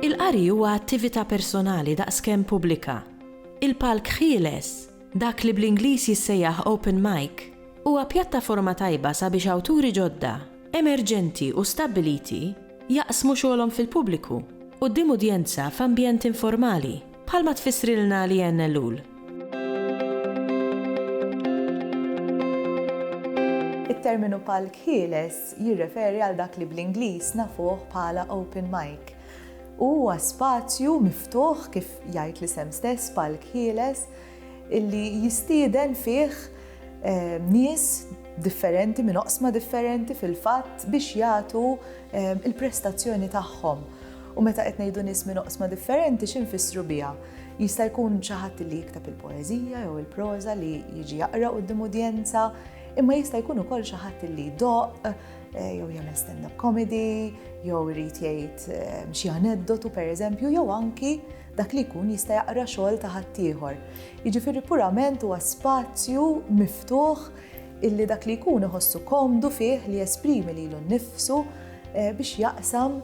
Il-qari huwa attività personali daqskemm pubblika. Il-palk ħieles, dak li bl-Ingliż jissejjaħ open mic, huwa pjattaforma tajba sabiex awturi ġodda, emerġenti u stabbiliti, Jaqsmu xogħolhom fil-pubbliku, quddiem udjenza f'ambjent informali, bħalma tfissrilna Leanne Ellul. It-terminu palk ħieles jirreferi għal dak li bl-Ingliż nafuh bħala open mic. Huwa spazju miftuħ, kif jgħid l-isem stess, palk ħieles, illi jistieden fih nies differenti minn oqsma differenti fil-fatt biex jagħtu l-prestazzjoni tagħhom. U meta qed ngħidu nies minn oqsma differenti xi nfissru biha? Jista' jkun xi ħadd li jikteb il-poeżija jew il-proża li jiġi jaqra quddiem udjenza, imma jista' jkun ukoll xi ħadd li jdoqq jew jagħmel stand-up comedy jew irid jgħid xi aneddotu pereżempju jew anki Dak li jkun jista' jaqra xogħol ta' ħaddieħor. Jiġifieri purament huwa spazju miftuħ illi dak li jkun iħossu komdu fih li jesprimi lilu nnifsu eh, biex jaqsam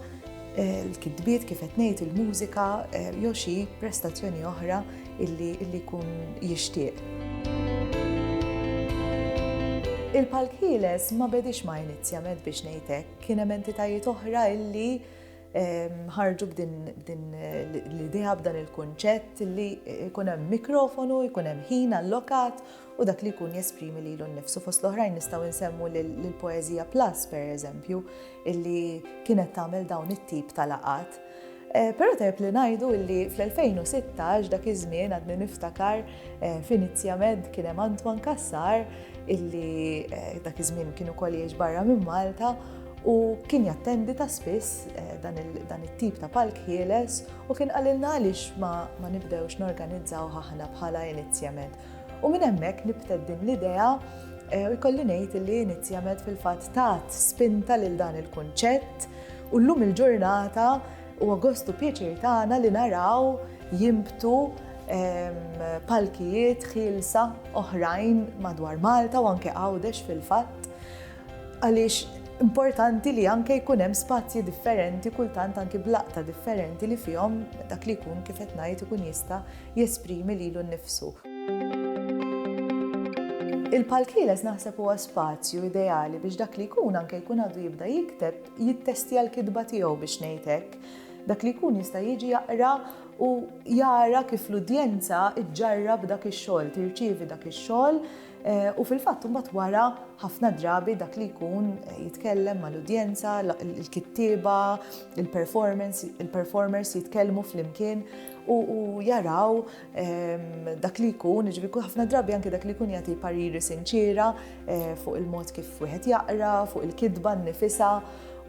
eh, l-kitbiet kif qed ngħid il-mużika eh, jew xi prestazzjoni oħra illi jkun jixtieq. Il-Palk Ħieles ma bedix ma inizjament biex ngħidlek, kien hemm entitajiet oħra illi ħarġu b'din l-idea, b'dan il-kunċett li jkun hemm mikrofonu, jkun hemm ħin allokat u dak li jkun jesprimi lilu nnifsu. Fost l-oħrajn nistgħu nsemmu l-Poezija Plus, per eżempju, illi kienet tagħmel dawn it-tip ta' laqat. Eh, Pero tajb li najdu illi fl-2016 dak iż-żmien għadni niftakar eh, f'inizja med kien hemm Antoine Kassar illi eh, dak iż-żmien kienu koliex barra minn Malta u kien jattendi ta' spiss dan it-tip ta' palk ħieles u kien qalilna għaliex ma nibdewx norganizzawh aħna bħala Inizjamed. U minn hemmhekk nibtet din l-idea u jkolli ngħid li Inizjamed fil-fatt tat spinta lil dan il-kunċett u llum il-ġurnata huwa gost u pjaċir tagħna li naraw jinbtu palkijiet ħielsa oħrajn madwar Malta u anke Għawdex fil-fatt Għaliex importanti li anke jkun hemm spazji differenti kultant anki b'laqta differenti li fihom dak li jkun kif qed ngħid ikun jista' jesprimi lilu nnifsu. Il-palkieles naħseb huwa spazju ideali biex dak li jkun anke jkun għadu jibda jikteb jittestja l-kitba tiegħu biex ngħid hekk. Dak li jkun jista' jiġi jaqra u jara kif l-udjenza ġġarrab dak ix-xogħol, tirċievi dak ix-xogħol U fil-fatt imbagħad wara ħafna drabi dak li jkun jitkellem mal-udjenza, il-kittieba, il-performance, il-performers jitkellmu flimkien u jaraw ehm, dak li jkun, ġifieri ħafna drabi anke dak li jkun jagħti pariri sinċiera eh, fuq il-mod kif wieħed jaqra, fuq il-kitba nnifisha.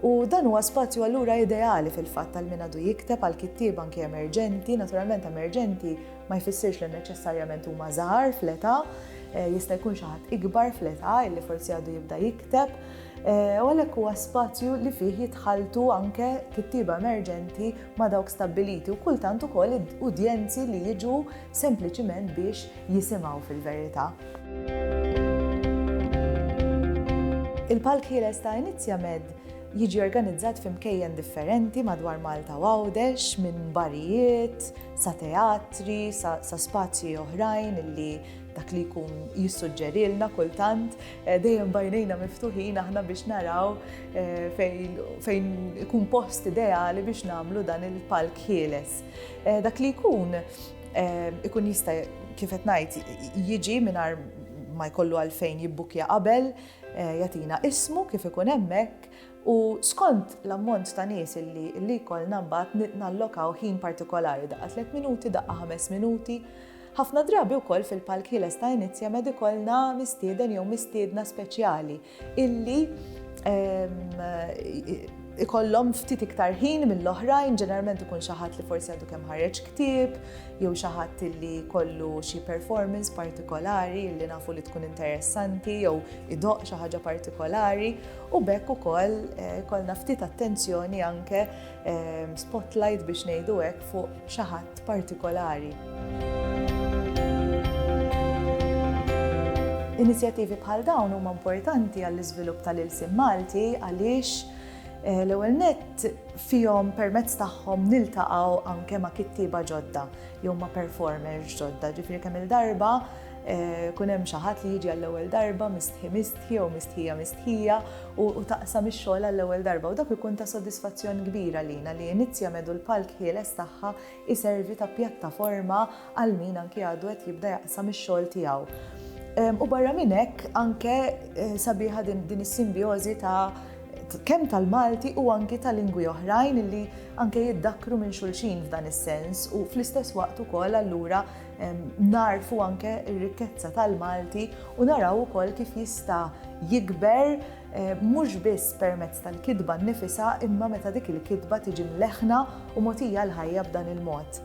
U dan huwa spazju allura ideali fil-fatt tal-min għadu jikteb għal kittieba anke emerġenti, naturalment emerġenti Ma jfissirx li neċessarjament huma żgħar fl-età, jista' jkun xi ħadd ikbar fl-età li forsi għadu jibda jikteb, u għalhekk huwa spazju li fih jitħalltu anke kittieba emerġenti ma' dawk stabbiliti u kultant ukoll udjenzi li jiġu sempliċiment biex jisimgħu fil-verità. Il-Palk Ħieles ta' Inizjamed jiġi organizzat f'imkejjen differenti madwar Malta u Għawdex minn barijiet, sa teatri, sa, sa spazji oħrajn illi dak li jkun jissuġġerilna kultant, eh, dejjem bajnejna miftuħin aħna biex naraw eh, fejn ikun post ideali biex namlu dan il-palk ħieles. Eh, dak li jkun ikun jista' kifet najt jiġi minar ma jkollu għalfejn jibbukja qabel, jatina ismu kif ikun hemmhekk, U skont l-ammont ta' nies illi illi jkollna mbagħad nallokaw ħin partikolari, daqqa tliet minuti, daqqa ħames minuti. Ħafna drabi wkoll fil-palk ħieles ta' Inizja Med ikollna mistieden jew mistiedna speċjali illi ehm, ikollhom ftit iktar ħin mill-oħrajn, ġeneralment ikun xi ħadd li forsi għadu kemm ħareġ ktieb, jew xi ħadd li kollu xi performance partikolari li nafu li tkun interessanti jew idoq xi ħaġa partikolari u b'hekk ukoll ikollna ftit attenzjoni anke spotlight biex ngħidu hekk fuq xi ħadd partikolari. Inizjattivi bħal dawn huma importanti għall-iżvilupp tal-ilsien Malti għaliex l-ewwel nett fihom permezz tagħhom niltaqgħu anke ma' kittieba ġodda jew ma' performers ġodda, ġifieri kemm-il darba Ikun hemm xi ħadd li jiġi għall-ewwel darba, mistħi mistħi jew mistħija mistħija, u taqsam ix-xogħol għall-ewwel darba, u dak ikun ta' sodisfazzjon kbir għalina li Inizja Med u l-palk ħieles tagħha jservi ta' pjattaforma għal min anki għadu qed jibda jaqsam ix-xogħol tiegħu. U barra minn hekk anke sabiħa din is-simbjożi ta' kemm tal-Malti u anki ta' lingwi oħrajn li anke jiddakkru minn xulxin f'dan is-sens u fl-istess waqt ukoll allura narfu anke r-rikkezza tal-Malti u naraw ukoll kif jista' jikber eh, mhux biss permezz tal-kidba nnifisha imma meta dik il-kidba tiġi mleħna u motija l-ħajja b'dan il-mod.